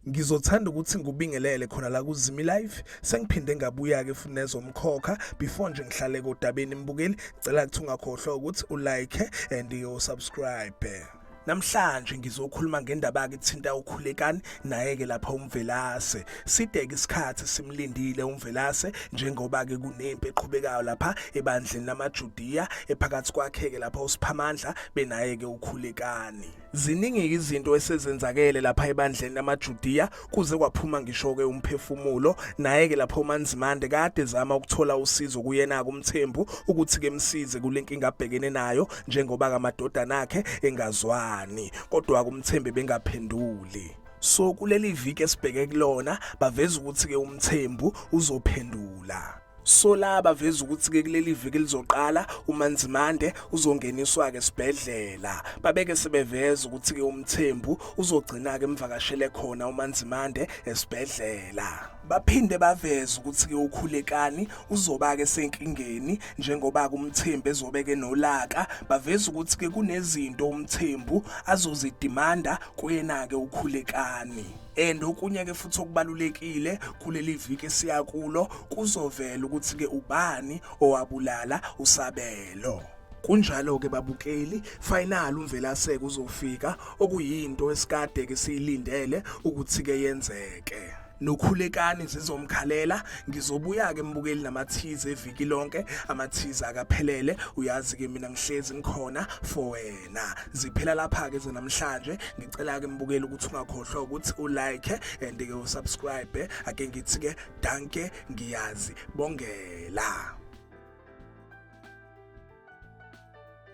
ngizothanda ukuthi ngubingelele khona la kuzimi live sengiphinde ngabuya ke futhi nezomkhokha before nje ngihlale kodabeni mbukeli ngicela ukuthi ungakhohlwa ukuthi ulike and usubscribe Namhlanje ngizokhuluma ngendaba ekuthinta ukhulekani naye ke lapha umvelase. Sideke isikhathi simlindile umvelase njengoba ke kunempi eqhubekayo lapha ebandleni lamaJudiya ephakathi kwakhe ke lapha uSiphamandla benaye ke ukhulekani. Ziningi izinto esezenzakele lapha ebandleni lamaJudiya kuze kwaphuma ngisho-ke umphefumulo naye-ke lapho umanzimande kade ezama ukuthola usizo kuyena-ke umthembu ukuthi kemsize kule nkinga abhekene nayo njengoba kamadodana akhe engazwani kodwa-ke umthembe bengaphenduli so kuleli viki esibheke kulona baveza ukuthi-ke umthembu uzophendula Sola baveza ukuthi ke kuleli viki elizoqala uManzimande uzongeniswa ke sibhedlela. Babeke sebeveza ukuthi ke uMthembu uzogcina ke emvakashele khona uManzimande esibhedlela. Baphinde baveza ukuthi ke ukhulekani uzoba ke senkingeni njengoba kumthembu ezobe ke nolaka baveza ukuthi ke kunezinto umthembu azozidimanda kuyena ke ukhulekani. and okunye ke futhi okubalulekile kuleli viki esiya kulo kuzovela ukuthi ke ubani owabulala usabelo kunjalo-ke babukeli final umvelaseke uzofika okuyinto esikade ke siyilindele ukuthi-ke yenzeke nokhulekani zizomkhalela ngizobuya-ke mbukeli namathize eviki lonke amathize akaphelele uyazi-ke mina ngihlezi ngikhona for wena na ziphela lapha ke namhlanje ngicela ke mbukeli ukuthi ungakhohlwa ukuthi u like and ke u subscribe ake ngithi ke danke ngiyazi bongela